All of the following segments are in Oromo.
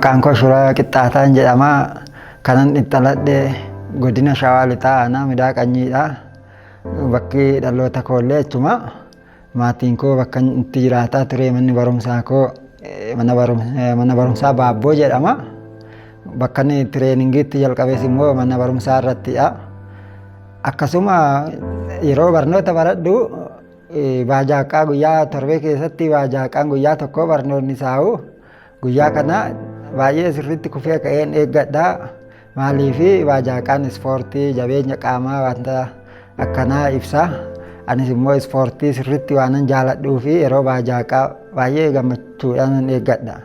Maqaan koo Shuraa Qixxaataan jedhama. Kanan dhaladhe godina Shawaa Lixaa Aanaa Midaa Qanyiidha. Bakki dhaloota koollee achuma. Maatiin koo bakka itti jiraataa ture manni barumsaa koo mana barumsaa baabboo jedhama. Bakka inni tireeningiitti jalqabes immoo mana barumsaa irrattidha. Akkasuma yeroo barnoota baradhu baajaaqaa guyyaa torbee keessatti baajaaqaan guyyaa tokkoo barnoonni isaa'u Guyyaa kana baay'ee sirriitti kufee ka'een eeggadha. Maaliif waajaaqaan ispoortii jabeenya qaamaa wanta akkanaa ibsa. Anis immoo ispoortii sirriitti waanan jaaladhuu fi yeroo waajaaqaa baay'ee gammachuudhaan eeggadha.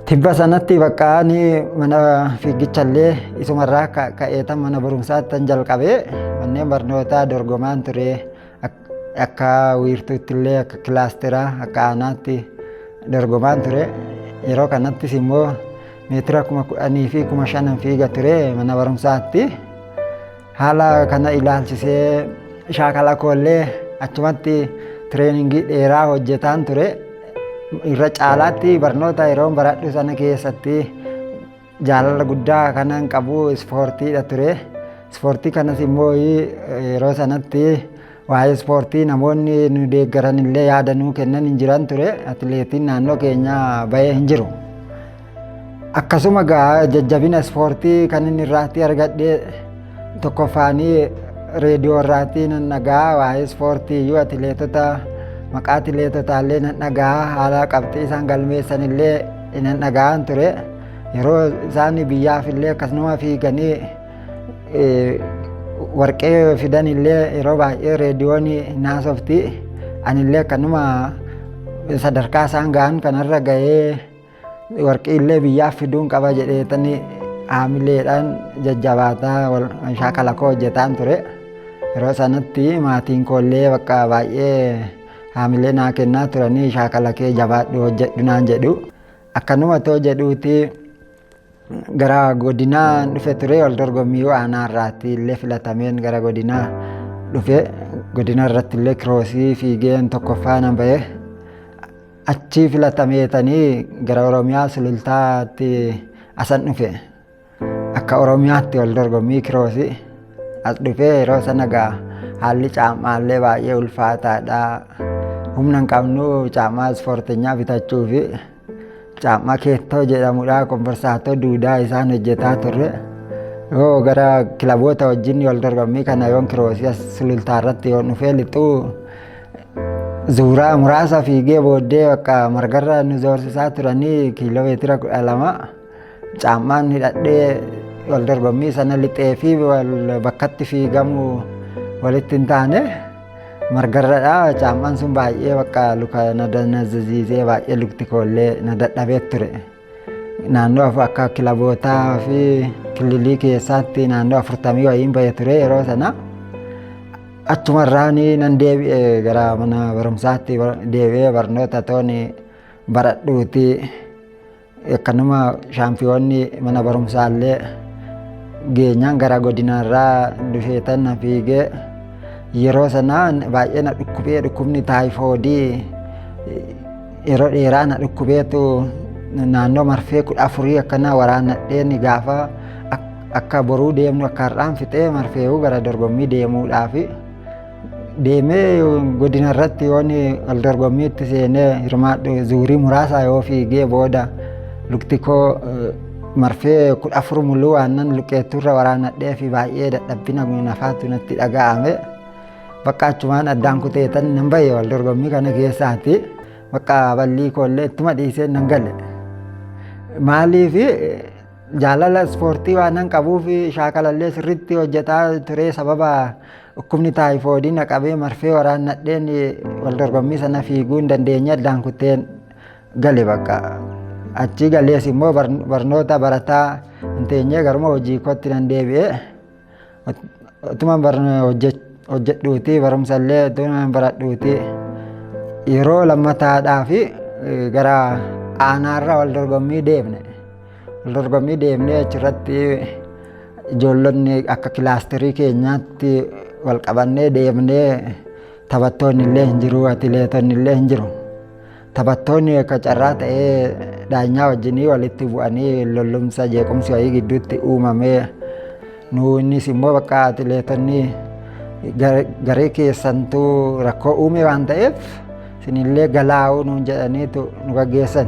Tibba sanatti bakka ani mana fiigichallee isumarraa ka'eetan mana barumsaattan jalqabee manneen barnootaa dorgomaan ture. Akka wiirtuutti illee akka kilaasteraa akka aanaatti dorgomaan ture. Yeroo kanattis immoo meetira kuma kudhanii fi kuma shanan fiiga ture mana barumsaatti. Haala kana ilaalchisee shaakala koollee achumatti tireeningii dheeraa hojjetaan ture. Irra caalaatti barnoota yeroon baradhu sana keessatti Jaalala guddaa kanan qabu ispoortiidha ture. Ispoortii kanas immoo yeroo sanatti waa'ee ispoortii namoonni nu deeggaran illee yaada nuu kennan hin jiran ture. Atileetiin naannoo keenyaa bahee hin jiru. Akkasuma gaa jajjabina ispoortii kan inni irraatti argadhe Tokkoffaanii reediyoo irraatii nan dhaga'a waa'ee ispoortii iyyuu atileetota maqaa atileetotaa illee nan dhaga'a haala qabxii isaan galmeessan illee nan dhaga'an ture yeroo isaan biyyaaf illee akkasuma fiiganii warqee fidan illee yeroo baay'ee reediyoon naasofti anillee akkanuma sadarkaa isaan ga'an kanarra ga'ee Warqii illee biyyaa fiduun qaba jedheetanii haamileedhaan jajjabaataa wal shaakala koo hojjetaan ture. Yeroo sanatti maatiin koo illee bakka baay'ee haamilee naa kennaa turanii shaakala kee jabaadhu hojjedhu naan jedhu. Akkanuma too jedhuuti gara godinaa dhufe ture wal dorgommii aanaa irraatti illee filatameen gara godinaa dhufe godina irratti illee kiroosii fiigeen tokkoffaa nan ba'e. Achii filatameetanii gara Oromiyaa Sulultaatti asan dhufe. Akka Oromiyaatti wal dorgommii kiroosi as dhufee yeroo sana gaa haalli caamaallee baay'ee ulfaataadha. Humna hin qabnu caamaa ispoortinyaa bitachuu fi caamaa keettoo jedhamudha komborsaatoo duudaa isaan hojjetaa turre. Yoo gara kilaboota wajjin wal dorgommii kana yoon kiroosi as sulultaa irratti yoon dhufee lixuu Zuuraa muraasa fiigee booddee bakka margarra nu zoorsisaa turanii kiiloomeetira kudha lama caammaan hidhadhee wal dorgommii sana lixee fi wal bakkatti fiigamu walitti hin taane margarradha caammaan sun baay'ee bakka luka na danazziisee baay'ee lukti koollee na dadhabee ture. naannoo akka kilabootaa fi kililii keessaatti naannoo afurtamii wayiin ba'e ture yeroo sana achumarraan nan deebi'e gara mana barumsaatti deebi'ee barnoota tooni baradhuuti akkanuma shaampiyoonni mana barumsaallee geenyaan gara godinaarraa dhufeetan na fiigee yeroo sana baay'ee na dhukkubee dhukkubni taayifoodii Yeroo dheeraa na dhukkubeetu naannoo marfee kudha afurii akkanaa waraannadhee ni gaafa akka boruu deemnu akka har'aan fixee marfee'uu gara dorgommii deemuudhaaf deemee godina irratti yoon wal dorgommiitti seenee hirmaadhu zuurii muraasaa yoo fiigee booda lukti koo marfee kudha afur muluu aannan luqqeettuurra waraannadhee fi baay'ee dadhabbina nafaatu natti dhaga'ame. Bakka achumaan addaan kuteetan nan bahe wal dorgommii kana keessaati. Bakka ballii koollee ittuma dhiisee nan gale. Maaliif jaalala ispoortii waan nan qabuuf shaakalallee sirriitti hojjetaa ture sababa dhukkubni taayifoodii na qabee marfee waraannadheen wal dorgommii sana fiiguu hin dandeenye addaan kuteen gale bakka. Achii galees immoo barnoota barataa hin teenyee garuma hojii kootti nan deebi'e. Utuma hojjedhuuti barumsa illee utuma baradhuuti yeroo lammataadhaa fi gara aanaarra wal dorgommii deemne. Wal dorgommii deemnee achirratti ijoollonni akka kilaasterii keenyaatti wal qabannee deemnee taphattoonni illee hin jiru atileetonni illee hin jiru. Taphattoonni akka carraa ta'ee daanyaa wajjinii walitti bu'anii lollumsa jeequmsi wayii gidduutti uumamee nu innis immoo bakka atileetonni garee keessantuu rakkoo uume waan ta'eef isinillee galaa'uu nuun jedhaniitu nu gaggeessan.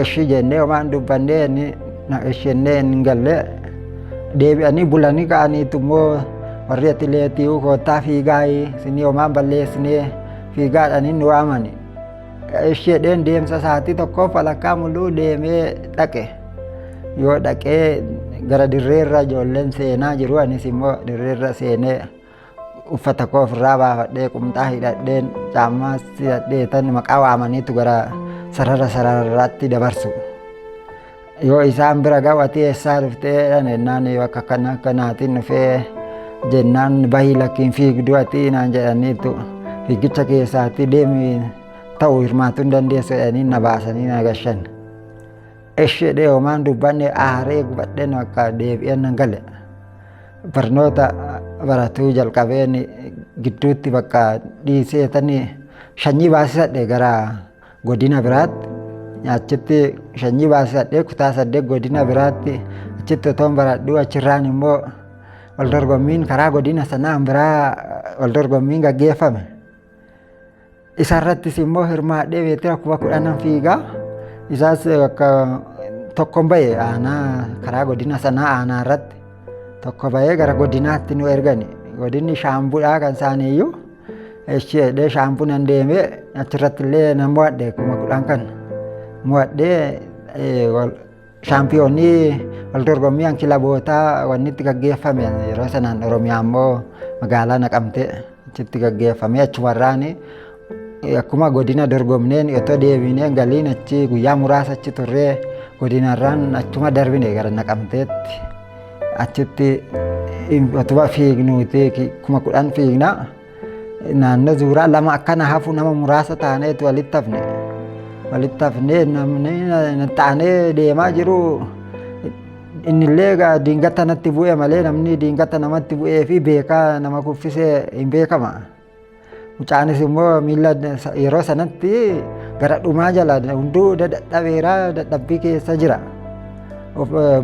Eshi jennee homaan dubbannee inni na eshennee hin galle deebi'anii bulanii ka'aniitu immoo warri atileetii koottaa fiigaa isinii homaan balleessinee fiigaadhaan inni waamani isheedheen deemsa isaatii tokkoof walakkaa muluu deemee dhaqe yoo dhaqee gara dirreerra ijoolleen seenaa jiru anis immoo dirreerra seenee uffata koo ofirraa baafadhee qumxaa hidhadheen caammaas hidhadhee tan maqaa waamaniitu gara sarara sararraatti dabarsu. Yoo isaan bira ga'u ati eessaa dhuftee dhan jennaan yoo akka kana akka naatiin dhufee jennaan bahii lakkiin fiigduu ati naan jedhaniitu fiigicha keessaatti deemi ta'u hirmaatuu hin dandeessu jedhanii na baasanii na gashan. Ishee dheehumaan dubbanne aaree gubadheen akka deebi'een nan gale. Barnoota baratuu jalqabeen gidduutti bakka dhiiseetanii shanyii baasisadhe gara godina biraatti achitti shanyii baasadhee kutaa saddeet godina biraatti achitti otoon baradhuu achirraan immoo wal dorgommiin karaa godina sanaan biraa wal dorgommiin gaggeeffame. Isarrattis immoo hirmaadhee meetira kuma kudhanan fiigaa isaas akka tokkon ba'e aanaa karaa godina sanaa aanaa irratti tokko ba'ee gara godinaatti nu ergani godinni shaambudhaa kan isaaniiyyuu Echi jedhee shaampunan deemee achirratti illee nan mo'adhe kuma kudhan kan mo'adhee shaampiyoonni wal dorgommiin kilabootaa wanni itti gaggeeffame yeroo sanaan Oromiyaa immoo magaalaa naqamtee achitti gaggeeffame achumarraan akkuma godina dorgomneen otoo deebineen galiin achi guyyaa muraasa achi turree godinarraan achuma darbine gara naqamteetti. Achitti utuma fiignuuti kuma kudhan fiignaa naannoo zuuraa lama akkana hafu nama muraasa taaneetu walitti hafne. Walitti hafnee namni taanee deemaa jiru innillee egaa diingata natti bu'e malee namni diingata namatti bu'ee fi beekaa nama kuffisee hin beekama. Mucaanis immoo miila yeroo sanatti gara dhumaa jala hunduu dadhabeera dadhabbii keessa jira.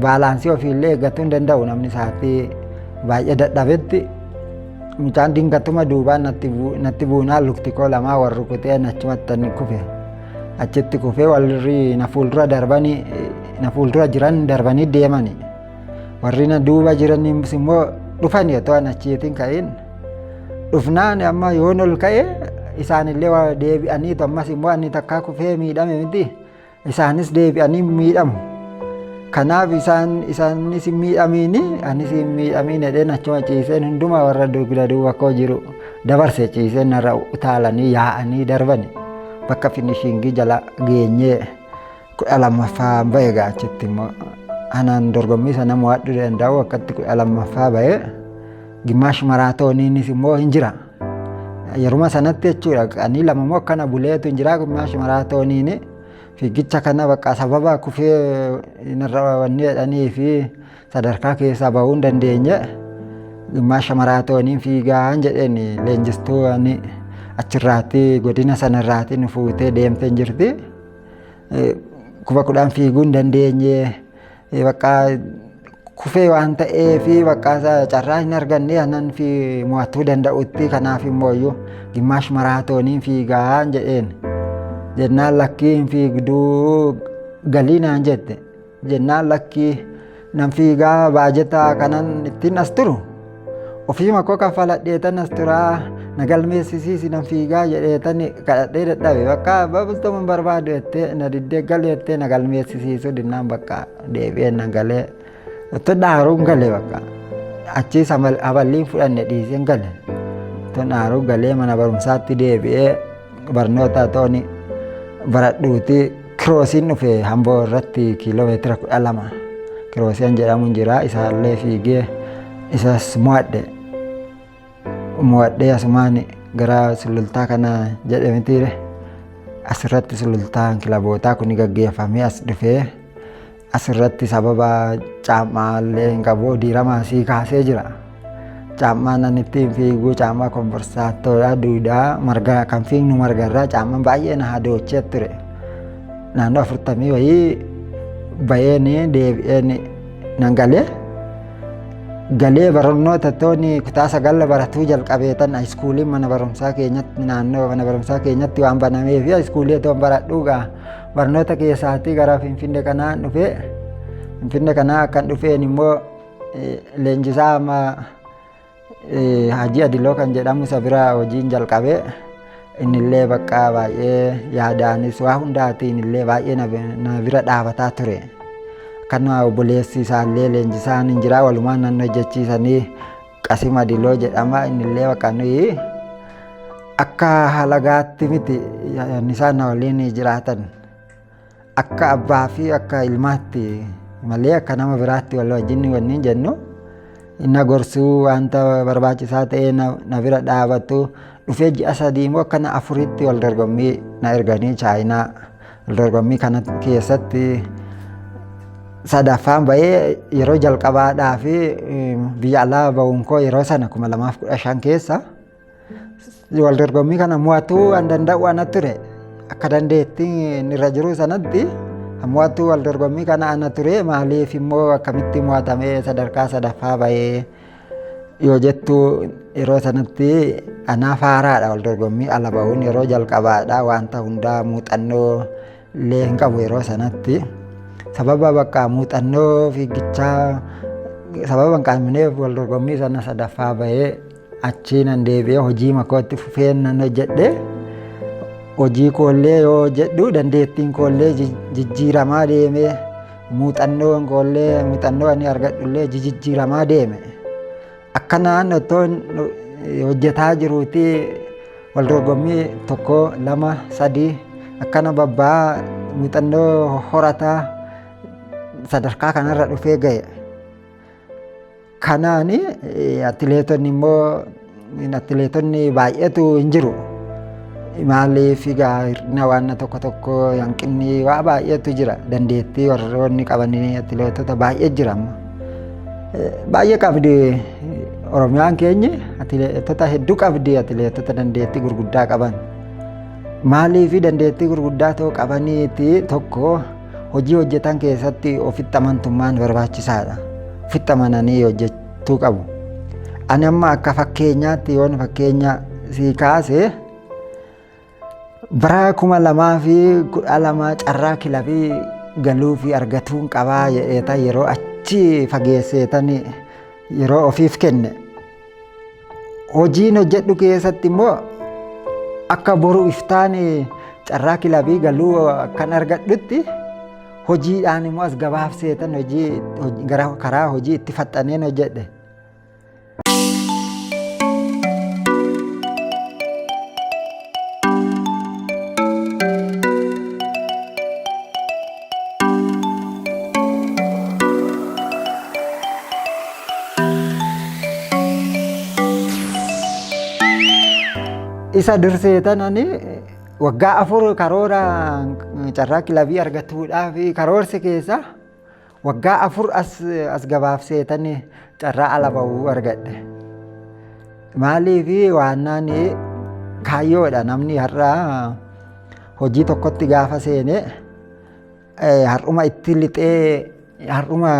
Baalaansii ofiillee eeggachuu hin danda'u namni isaatti baay'ee dadhabetti. Mucaan dingatuma duubaan natti buunaa lukti koo lamaa wal rukutee achumatti ni kufe. Achitti kufee warri na fuuldura darbanii na fuuldura jiran darbanii deemani. Warri na duuba jiranis immoo dhufani otoo an achiitiin ka'in. dhufnaan amma yoon ol ka'e isaanillee waa deebi'aniitu ammas immoo ani takkaa kufee miidhame miti isaanis deebi'anii miidhamu. Kanaaf isaan isaanis hin miidhamiini anis hin miidhamiin jedheen achuma ciiseen hundumaa warra dugda duuba koo jiru dabarse ciiseen narra utaalanii yaa'anii darbani bakka finishingii jala geenyee. kudha lammaffaa ba'e egaa achitti immoo anaan dorgommii sana mo'adhu danda'u akkatti kudha lammaffaa ba'e gimmaash maraatooniinis immoo hin jira. Yeruma sanatti jechuudha qanii lama immoo akkana buleetu hin jira gimmaash maraatooniin fiigicha kana bakka sababa kufee narra wanni jedhanii fi sadarkaa keessaa bahuu hin dandeenye gimmaasha maraatooniin fiigaan jedheen leenjistuu achirraatti godina sanarraatti nu fuutee deemtee jirti. Kuma kudhan fiiguu hin dandeenye bakka kufee waan ta'eef bakka carraa hin arganne anan fi mo'atuu danda'utti kanaaf immoo iyyuu gimmaash maraatooniin fiigaa jedheen jennaan lakkii hin fiigduu galii naan jette. jennaan lakkii nan fiigaa baajetaa kanan ittiin as turu ofiima koo kafaladheetan as turaa na galmeessisiisi nan fiigaa jedheetan kadhadhee dadhabe bakka babustama hin barbaadu jettee na diddee galu jettee na galmeessisiisu dinnaan bakka deebi'ee nan galee otto dhaaruun gale bakka achiis aballiin fudhanne dhiiseen gale otto dhaaruu galee mana barumsaatti deebi'ee Barnoota tooni baradhuuti kiroosiin dhufe hamboo irratti kiiloomeetira kudha lama kiroosiin jedhamuun jira isaallee fiigee isas mo'adhe mo'adhee asumaan gara sulultaa kana jedhamitiire asirratti sulultaan kilabootaa kun gaggeeffamee as dhufee Asirratti sababa caammaa illee hin qabu diiramaa sii kaasee jira. Caammaa nan ittiin fiigu caammaa komborsaattoodha duudaa marga kan fiignu marga irraa caammaan baay'ee na hadoochee ture. Naannoo afurtamii wayii baheen deebi'een nan galee. Galee barannoota tooni kutaa sagal baratuu jalqabee tan haayiskuuliin mana barumsaa keenyatti naannoo mana barumsaa keenyatti waan banameef haayiskuulii toon baradhuugaa. Barnoota keessaatii gara Finfinnee kanaan dhufee Finfinnee kanaa akkan dhufeen immoo leenjisaa amma Hajii Adiloo kan jedhamu isa bira hojiin jalqabee innillee bakka baay'ee yaadaanis waa hundaatiin illee baay'ee na bira dhaabataa ture. Akkanuma obboleessi isaallee leenjisaan hin jira walumaan nan hojjechiisanii Qasim Adiloo jedhama innillee bakka nuyi akka halagaatti miti yaanni isaan na waliin jiraatan akka abbaa fi akka ilmaatti malee akka nama biraatti wal wajjin wanni jennu na gorsuu wanta barbaachisaa ta'ee na na bira dhaabatu dhufee ji'a sadii immoo akka na afuritti wal dorgommii na erganii chaayinaa Dorgommii kana keessatti sadaffaan bahee yeroo jalqabaadhaa fi biyya alaa bahuun koo yeroo sana kuma lamaaf kudha shan keessa wal dorgommii kana mo'atuu an danda'u ana ture akka dandeetti inni irra jiru sanatti mo'atuu wal dorgommii kana ana ture maaliif immoo akkamitti mo'atamee sadarkaa sadaffaa bahee yoo jettu yeroo sanatti anaa faaraadha wal dorgommii ala ba'uun yeroo jalqabaadha wanta hundaa muuxannoo illee hin qabu yeroo sanatti sababa bakka muuxannoo fiigichaa sababa hin qabneef wal dorgommii sana sadaffaa ba'ee achii nan deebi'ee hojii makootti fufee nan hojjedhe hojii koollee yoo hojjedhu dandeettiin koollee jijjiiramaa deemee Muuxannoon koollee muuxannoo ani argadhullee jijijjiiramaa deeme. Akka naannoo otoo hojjetaa jiruuti wal dorgommii tokko lama sadii akkana babba'aa muuxannoo horataa sadarkaa kanarra dhufee ga'e. Kanaan atileetonni immoo atileetonni baay'eetu hin jiru. Maaliif egaa hir'ina waan tokko tokko hanqinni waa baay'eetu jira. Dandeettii warroonni qaban atileetota baay'ee jira amma. Baay'ee qabdi Oromiyaan keenya atileetota hedduu qabdi atileetota dandeettii gurguddaa qaban. Maaliif dandeettii gurguddaa ta'uu qabaniiti tokko Hojii hojjetan keessatti ofitti amantummaan barbaachisaadha. Ofitti amananii hojjechuu qabu. Ani amma akka fakkeenyaatti yoon fakkeenya sii kaase bara kuma lamaa fi kudha lama carraa kilabii galuu fi argatuun qabaa jedheeta yeroo achi fageesseetan yeroo ofiif kenne. Hojiin hojjedhu keessatti immoo akka boru iftaan carraa kilabii galuu kan argadhutti hojiidhaan immoo as gabaaf seetan hojii gara karaa hojii itti faxxaneen hojjedhe. isa dursee tanani waggaa afur karoora carraa kilabii argachuudhaaf karoorsi keessa waggaa afur as as gabaabsee tani carraa ala bahuu argadhe. Maaliif waannaan kaayyoodha namni har'aa Hojii tokkotti gaafa seene har'uma itti lixee har'uma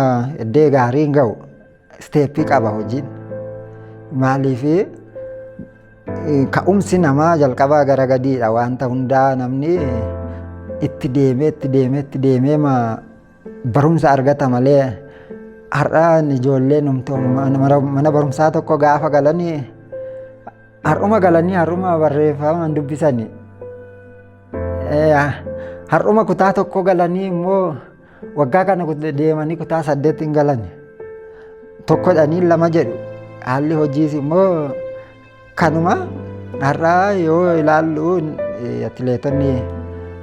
iddee gaariin ga'u isteeppii qaba hojiin. Maaliif ka'umsi namaa jalqabaa gara gadiidha wanta hundaa namni itti deemee itti deemee itti deemee Barumsa argata malee har'a ijoollee mana barumsaa tokko gaafa galanii har'uma galanii har'uma barreeffamaan dubbisanii har'uma kutaa tokko galanii immoo waggaa kana deemanii kutaa saddeet hin galani tokkodhanii lama jedhu haalli hojiis immoo Kanuma har'aa yoo ilaallu atileetonni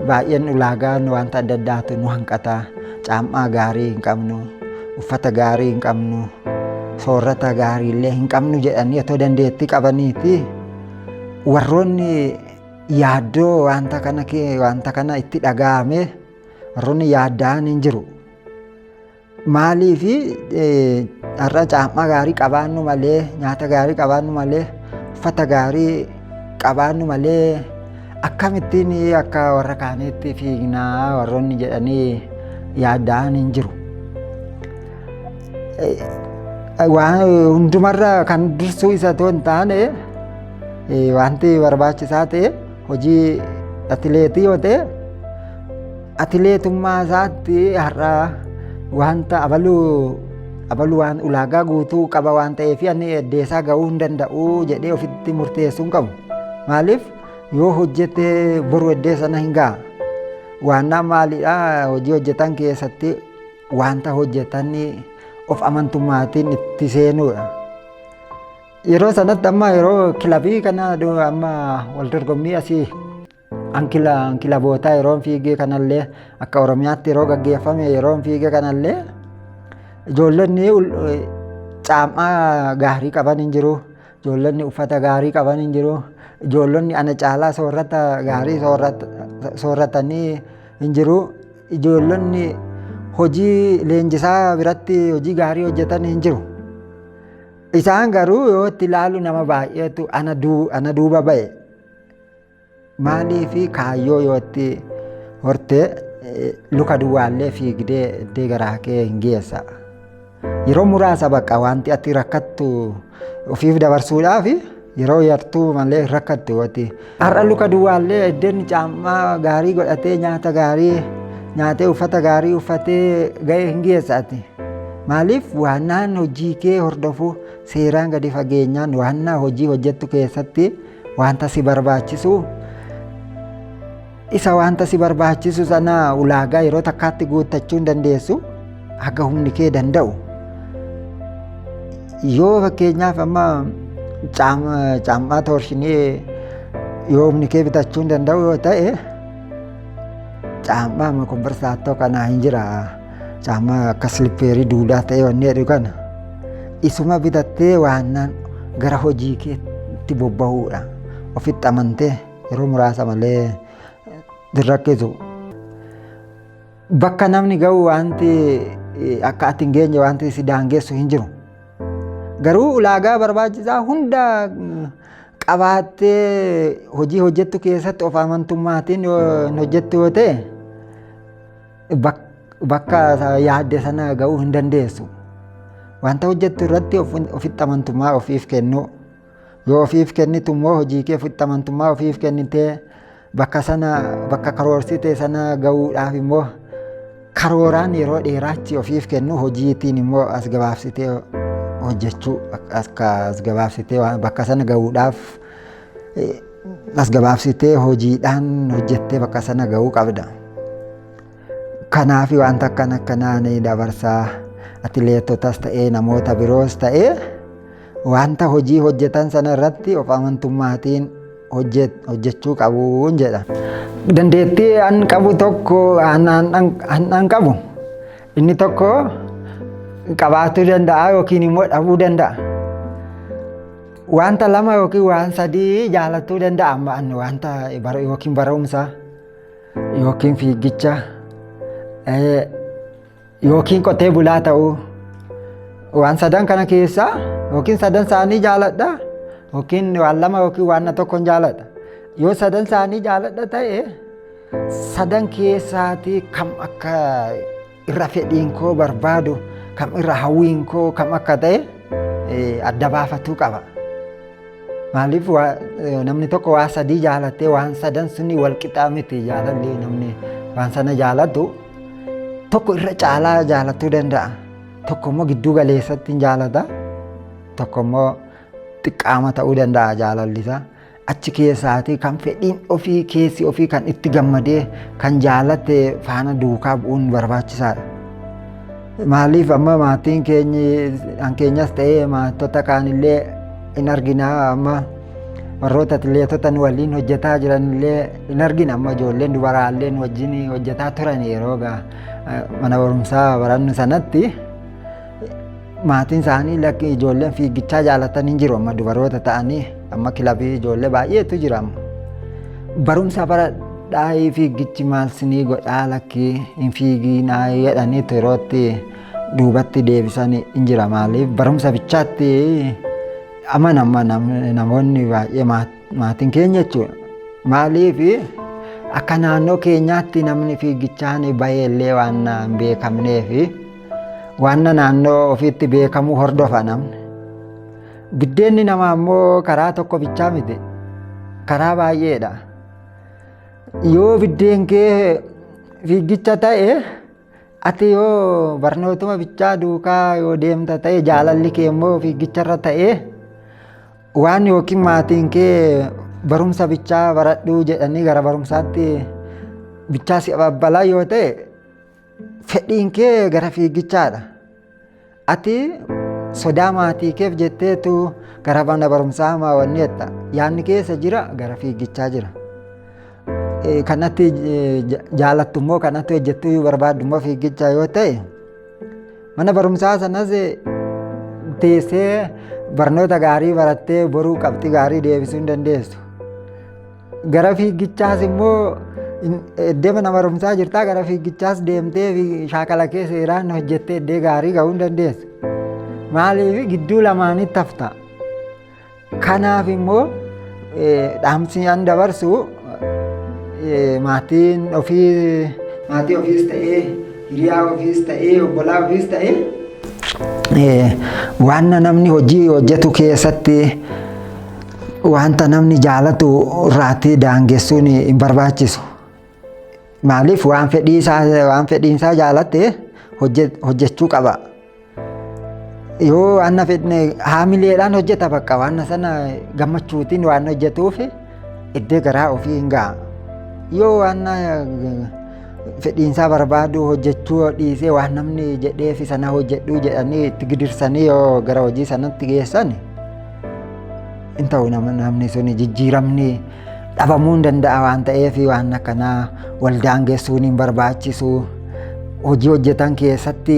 baay'een ulaagaan wanta adda addaatu nu hanqata. Caammaa gaarii hin qabnu, uffata gaarii hin qabnu, soorata gaarii illee hin qabnu jedhanii otoo dandeettii qabaniiti warroonni yaaddoo wanta kana wanta kana itti dhaga'ame warroonni yaadda'an hin jiru. Maalii fi har'a caammaa gaarii qabaannu malee nyaata gaarii qabaannu malee uffata gaarii qabaannu malee akkamittiin akka warra kaaniitti fiignaa warroonni jedhanii yaadaan hin jiru. Waan hundumarra kan dursuu isa otoo hin taane wanti barbaachisaa ta'e hojii atileetii yoo ta'e Atileetummaa isaatti har'a wanta abaluu abalu waan ulaagaa guutuu qaba waan ta'eef ani eddeessaa ga'uu hin danda'u jedhee ofitti murteessuu hin qabu. Maaliif yoo hojjete boru eddeessa na hin ga'a. Waannaa maalidha hojii hojjetan keessatti wanta hojjetan of amantummaatiin itti seenuudha. Yeroo sanatti amma yeroo kilabii kana amma wal dorgommii asii Ankila kilabootaa yeroon fiigee kanallee akka Oromiyaatti yeroo gaggeeffame yeroon fiigee kanallee ijoollonni caammaa gaarii qaban hin jiru. Ijoollonni uffata gaarii qaban hin jiru. Ijoollonni ana caalaa soorata gaarii sooratanii hin jiru. Ijoollonni hojii leenjisaa biratti hojii gaarii hojjetan hin jiru. Isaan garuu yoo itti ilaalu nama baay'eetu ana duuba ba'e. Maalii fi kaayyoo yoo itti hortee eh, luka duwwaallee fiigdee iddee garaa kee hin geessa. Yeroo muraasa bakka wanti ati rakkattu ofiif dabarsuudhaaf yeroo yartuu malee hin rakkattu wati. Har'a luka duwwaallee iddeen caammaa gaarii godhatee nyaata gaarii nyaatee uffata gaarii uffatee ga'ee hin geessa ati. Maaliif waannaan hojii kee hordofu seeraan gadi fageenyaan waannaa hojii hojjettu keessatti Wanta si barbaachisu isa wanta si barbaachisu sana ulaagaa yeroo takkaatti guuttachuu hin dandeessu haga humni kee danda'u. Yoo fakkeenyaaf amma caammaa toorshinii yoo humni kee bitachuu hin danda'u yoo ta'e caammaa amma kombarsaatoo kanaa hin jira. Caammaa akka silippeerii duudaa ta'ee wanni jedhu kana isuma bitattee waannaan gara hojii keetti bobba'uudha. Ofitti amantee yeroo muraasa malee dirrakkisu. Bakka namni ga'u wanti akka ati hin geenye wanti si daangessu hin jiru. Garuu ulaagaa barbaachisaa hunda qabaattee hojii hojjettu keessatti of amantummaatiin hojjettu yoo ta'e bakka yaadde sana ga'uu hin dandeessu. Wanta hojjettu irratti ofitti amantummaa ofiif kennuu. Yoo ofiif kennitu immoo hojii kee ofitti amantummaa ofiif kennitee bakka sana bakka karoorsite sana ga'uudhaaf immoo karooraan yeroo dheeraachi ofiif kennu hojiitiin immoo as gabaabsitee hojjechuu akka as gabaabsitee bakka sana ga'uudhaaf As gabaabsitee hojiidhaan hojjettee bakka sana ga'uu qabda. Kanaaf wanta akkan akkanaa ni dabarsaa atileetotas ta'ee namoota biroos ta'ee wanta hojii hojjetan sana irratti of amantummaatiin hojjechuu qabuun jedha. Dandeettii an qabu tokko an qabu inni tokko qabaachuu danda'a yookiin immoo dhabuu danda'a. Wanta lama yookiin waan sadii jaalachuu danda'a amma anni wanta bara- yookiin barumsa yookiin fiigicha eh, yookiin qotee bulaa ta'uu waan sadan kana keessaa yookiin sadan isaanii jaaladha yookiin waan lama yookiin waan tokkon jaaladha yoo sadan isaanii jaaladha ta'e sadan keessaatii kam akka irra fedhiin koo barbaadu kam irra hawwiin koo kam akka ta'e adda baafatuu qaba. Maaliif namni tokko waa sadii jaalattee waan sadan suni wal qixaa miti jaalalli namni waan sana jaalatu tokko irra caalaa jaalatuu danda'a. Tokko immoo gidduu galeessatti hin jaalata. Tokko immoo xiqqaama ta'uu danda'a jaalalli isaa. achi keessaati kan fedhiin ofii keessi ofii kan itti gammadee kan jaalatte faana duukaa bu'uun barbaachisaadha. Maaliif amma maatiin keenyi kan keenyas ta'ee maatota kaanillee hin argina amma warroota atileetota nu waliin hojjetaa jiranillee hin argina amma ijoolleen dubaraallee nu wajjin hojjetaa turan yeroo mana barumsaa barannu sanatti. Maatiin isaanii lakki ijoolleen fiigichaa jaalatan hin jiru amma dubaroota ta'anii amma kilabii ijoollee baay'eetu jira amma. Barumsa bara dhaayii fiigichi maal sinii godhaa lakki hin fiiginaa jedhanii yerootti duubatti deebisan hin jira maaliif barumsa bichaatti amanama namoonni baay'ee maatiin keenya jechuudha. Maaliif akka naannoo keenyaatti namni fiigichaan baay'ee illee waan hin beekamneefi. Waanna naannoo ofiitti beekamu hordofa namni. Biddeenni namaa immoo karaa tokko bichaa miti. Karaa baay'eedha. Yoo biddeen kee fiigicha ta'e ati yoo barnootuma bichaa duukaa yoo deemta ta'e jaalalli kee immoo fiigicharra ta'e waan yookiin maatiin kee barumsa bichaa baradhuu jedhanii gara barumsaatti bichaa si abbalaa yoo ta'e Fedhiin kee gara fiigichaadha. Ati sodaa maatii keef jetteetu gara mana barumsaa hamaa wanni jetta. Yaanni keessa jira gara fiigichaa jira. Eh, Kanatti eh, ja- jaalattu immoo kanatti hojjettu yoo barbaaddu immoo fiigicha yoo ta'e mana barumsaa sanas eh, teessee barnoota gaarii barattee boruu qabxii gaarii deebisuu hin dandeessu. Gara fiigichaas immoo eddema nama rumsaa jirtaa gara fiigichaas deemtee fi shaakala kee seeraan hojjettee eddee gaarii ga'uu hin dandeessu. Maaliif gidduu lamaanitti hafta. Kanaaf immoo dhaamsi an dabarsu maatiin ofii maatii ofiis ta'ee hiriyaa ofiis ta'ee obbolaa ofiis ta'ee waan namni hojii hojjetu keessatti Wanta namni jaalatu irraatti daangessuun hin barbaachisu. Maaliif waan fedhii isaa waan fedhiin isaa jaalatte hojje- hojjechuu qaba. Yoo waan na fedhne haamileedhaan hojjeta bakka waan na sana gammachuutiin waan hojjetuuf iddee garaa ofii hin ga'a. Yoo waan na fedhiin isaa barbaadu hojjechuu dhiisee waan namni jedheef sana hojjedhuu jedhanii itti gidirsanii yoo gara hojii sanatti geessan hin ta'u namni sun jijjiiramni dhabamuu hin danda'a waan ta'eef waan akkanaa waldaan geessuun hin barbaachisu hojii hojjetan keessatti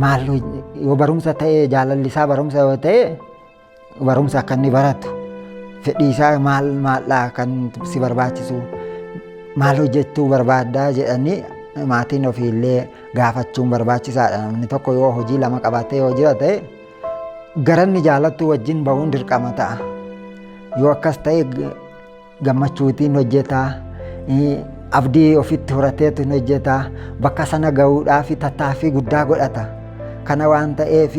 maal yoo barumsa ta'e jaalalli isaa barumsa yoo ta'e barumsa akka inni baratu fedhii isaa maal maaldhaa kan si barbaachisu maal hojjechuu barbaaddaa jedhanii maatiin ofiillee gaafachuun barbaachisaadha namni tokko yoo hojii lama qabatee yoo jira ta'e Garanni jaalattuu wajjin ba'uun dirqama ta'a. Yoo akkas ta'e gammachuutiin hojjetaa, abdii ofitti horateetu hin hojjetaa, bakka sana ga'uudhaaf tattaaffii guddaa godhata. Kana waan ta'eef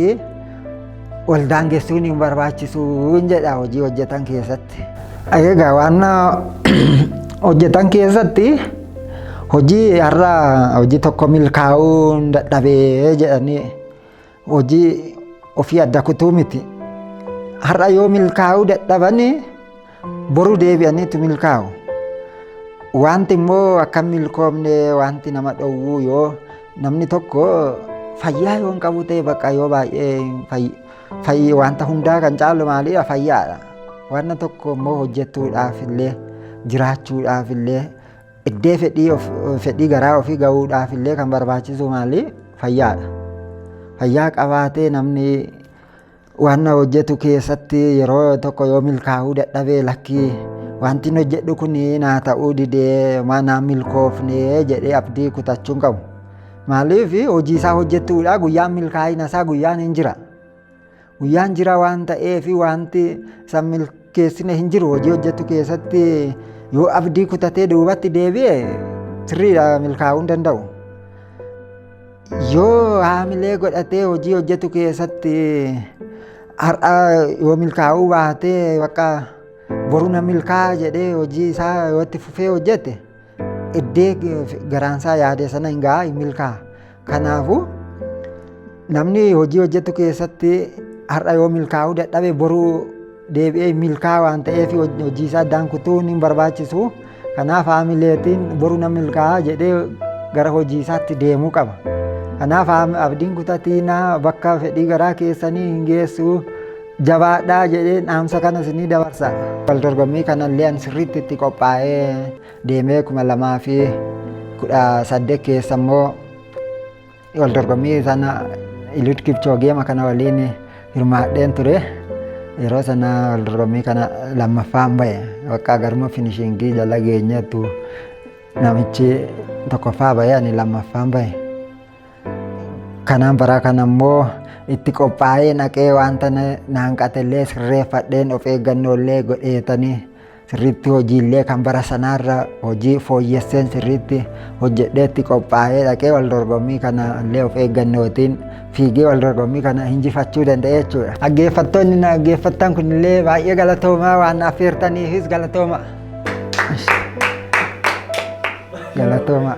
wal daangessuun hin barbaachisu jedha hojii hojjetan keessatti. Egaa waan hojjetan keessatti hojii har'a hojii tokko milkaa'uu dadhabee jedhanii Hojii ofii adda kutuu miti. Har'a yoo milkaa'uu dadhabanii boru deebi'aniitu milkaa'u. Wanti immoo akka hin milkoomne wanti nama dhowwuu yoo namni tokko fayyaa yoo hin qabu ta'e bakka yoo baay'ee fayyi wanta hundaa kan caalu maaliidha fayyaadha. Wanna tokko immoo hojjetuudhaaf illee jiraachuudhaaf illee Eddee fedhii of- fedhii garaa ofii gahuudhaaf illee kan barbaachisu maali? Fayyaadha. Fayyaa qabaatee namni waan na hojjetu keessatti yeroo tokko yoo milkaa'uu dadhabee lakkii wanti inni hojjedhu kun naa ta'uu didee maa naa milkoofnee jedhee abdii kutachuu hin qabu. Maaliif hojii isaa hojjetuudha guyyaan milkaa'ina isaa guyyaan hin jira. Guyyaan jira waan ta'eef wanti san milkeessine hin jiru hojii hojjetu keessatti yoo abdii kutatee duubatti deebi'e sirriidha milkaa'uu hin danda'u. Yoo haamilee godhatee hojii hojjetu keessatti har'a yoo milkaa'uu baatee bakka boru na milkaa'a jedhee hojii isaa yoo itti fufee hojjete Iddee garaansaa yaade sana hin gahaa hin milkaa'a. Kanaafuu namni hojii hojjetu keessatti har'a yoo milkaa'uu dadhabe boruu deebi'ee milkaa'a waan ta'eef hojii isaa addaan kutuun hin barbaachisu. Kanaaf haamileetiin boru nan milkaa'a jedhee gara hojii isaatti deemuu qaba. Kanaaf abdiin kutatiin bakka fedhii garaa keessanii hin geessu. Jabaadhaa jedheen dhaamsa kana isinii dabarsa. Wal dorgommii kanallee an sirriitti itti qophaa'ee deemee kuma lamaa fi kudha saddeet keessa immoo wal dorgommii sana Ilud Kipchoogeema kana waliin hirmaadheen ture. Yeroo sana wal dorgommii kana lammaffaan ba'e. Bakka garuma finishingii jala geenyeettu namichi tokkoffaa ba'e ani lammaffaan ba'e. Kanaan baraa kana immoo itti qophaa'ee naqee wanta naanqatellee sirreeffadheen of eeggannoollee godheetanii sirriitti hojiillee kan bara sanaarra hojii fooyyesseen sirriitti hojjedheetti qophaa'ee dhaqee wal dorgommii kana illee of eeggannootiin fiigee wal dorgommii kana injifachuu danda'e jechuudha. Dhaggeeffattoonni na dhaggeeffattan kunillee baay'ee galatoomaa waan na affeertaniifis galatoomaa. Galatoomaa.